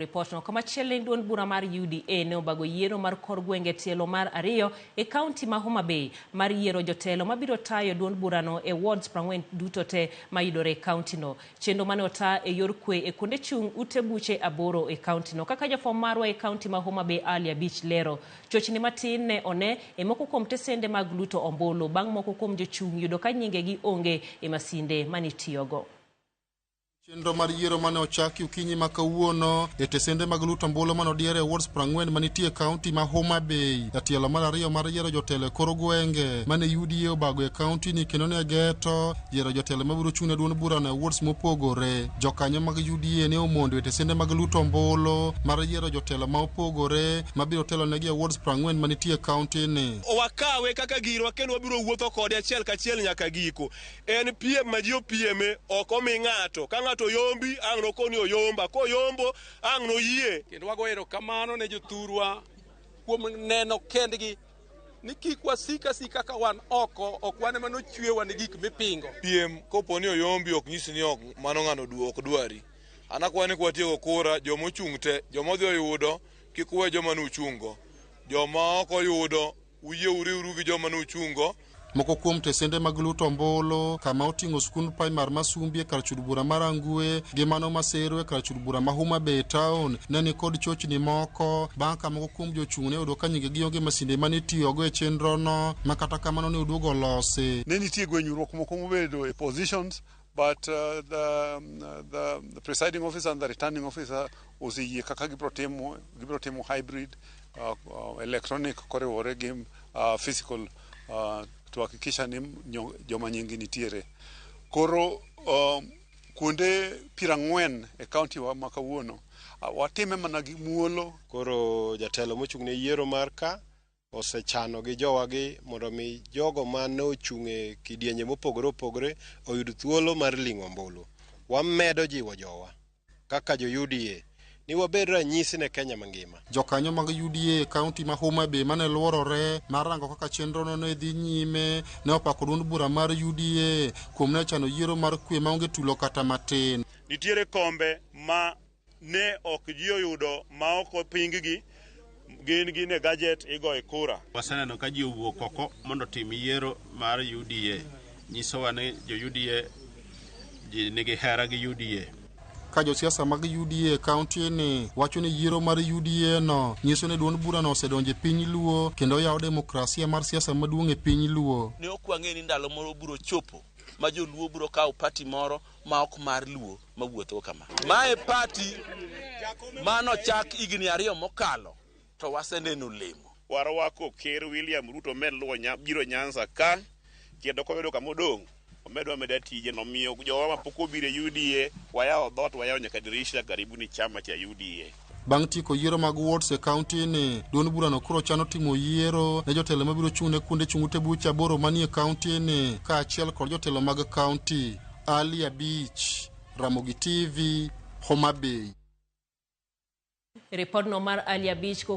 Ripotno komachielo ni duond bura mar UDA ne obago yiero mar kor gwenge tielo mar ariyo e kaunti ma Homa Bay mar yiero jotelo mabiro tayo duond burano e wards prang'wen duto te mayudore e kauntino. Chenro mane ota e yor kwe e kuonde chung' ute buche aboro e kauntino. Kaka jafwambo marwa e kaunti ma Homa Bay Ali Abich lero, chochni matin ne one e moko kuom tesende mag luto ombulu bang' moko kuom jochung' yudo ka nyingegi onge e masinde manitiyogo. chenro mar yiero mane ochaki okinyi ma kawuono e tesende mag luto ombulu mane odiere e wards prang'wen manitie kaunti ma Homa Bay. Jatielo mar ariyo mar yiero jotelo e kor gwenge mane UDA obago e kaunti ni kendo ne geto yiero jotelo mabiro chung' ne duond burano e wards mopogore. Jokanyo mag UDA ne omondo e tesende mag luto ombulu mar yiero jotelo ma opogore mabiro telo negi e wards prang'wen manitie kaunti ni. Wakawe kaka girwa kendo wabiro wuotho kode achiel kachiel nyaka giko. En piem ma ji opieme, ok omi ng'ato. Ka ng'ato oyombi, ang' noko ni oyomba. Koyombo, ang' noyie. Kendo wago erokamano ne jothurwa kuom neno kendgi ni kik wasik asika ka wan oko, ok wan ema nochwewa ni gik mipingo. Piem kopo ni oyombi ok nyis ni ok mano ng'ano du ok dwari. An akwayo ni kwatieko kura, joma ochung' te, joma odhi oyudo, kik uwe joma ne uchung'go. Joma ok oyudo. Uyie uriwru gi joma nuchungo. Moko kuom tesende mag luto ombulu kama oting'o skund primar ma Sumbi e kar chud bura ma Rangwe gi mano ma Sero e kar chud bura ma Homa Bay Town ne ni kod chochni moko bang' ka moko kuom jochung' ne oyudo ka nyingegi onge masinde mane itiyogo e chenrono ma kata kamano ne oduogo olosi. Ne nitie gwenyruok moko mobedo e positions But uh, the, um, the, the presiding officer and the returning officer oseyie kaka gibro timo gibro timo hybrid uh, uh, electronic koriwore gi uh, physical uh, to hakikisha ni nyo- joma nyingi nitiere koro um, kuonde piero ang'wen e kaunti wa ma kawuono uh, watime mana gi muolo Koro jatelo mochung' ne yiero mar ka osechano gi jowagi mondo omi jogo ma ne ochung' e kidienje mopogore opogore oyud thuolo mar ling'o ombulu. Wamedo jiwo jowa kaka jo UDA ni wabed ranyisi ne Kenya mangima. Jokanyo mag UDA e kaunti ma Homa Bay mane luorore mar rango kaka chenrono ne dhi nyime ne opako duond bura mar UDA kuom ne chano yiero mar kwe maonge tulo kata matin. Nitiere kombe ma ne ok ji oyudo maok oping gi gin gin e gajet igoye kura. Waseneno ka ji owuok oko mondo otim yiero mar UDA. Nyisowa ni jo UDA ji nigi hera gi UDA. Ka josiasa mag UDA e kaunti ni wacho ni yiero mar UDA no nyiso ni duond burano osedonjo e piny Luo kendo oyawo demokrasia mar siasa maduong' e piny Luo. Ne ok wang'eyo ni ndalo moro biro chopo ma joluo biro kawo party moro ma ok mar Luo mawuotho kama. Mae pati mano chak higni ariyo mokalo to waseneno lemo. Warwako ker William Ruto omed luwo nya, biro Nyanza ka kendo koyudo kama odong' omed wameda tije nomiyo jowa mapok obiro e UDA wayawo dhot wayawo nyaka dirisha karibuni chama cha UDA. Bang' tieko yiero mag wards e kaunti ni, duond burano koro chano timo yiero ne jotelo mabiro chung' ne kuonde chung' ute buche aboro manie kaunti ni, kaachiel kod jotelo mag kaunti. Ali Abich, Ramogi TV, Homa Bay. Ripodno mar Ali Abich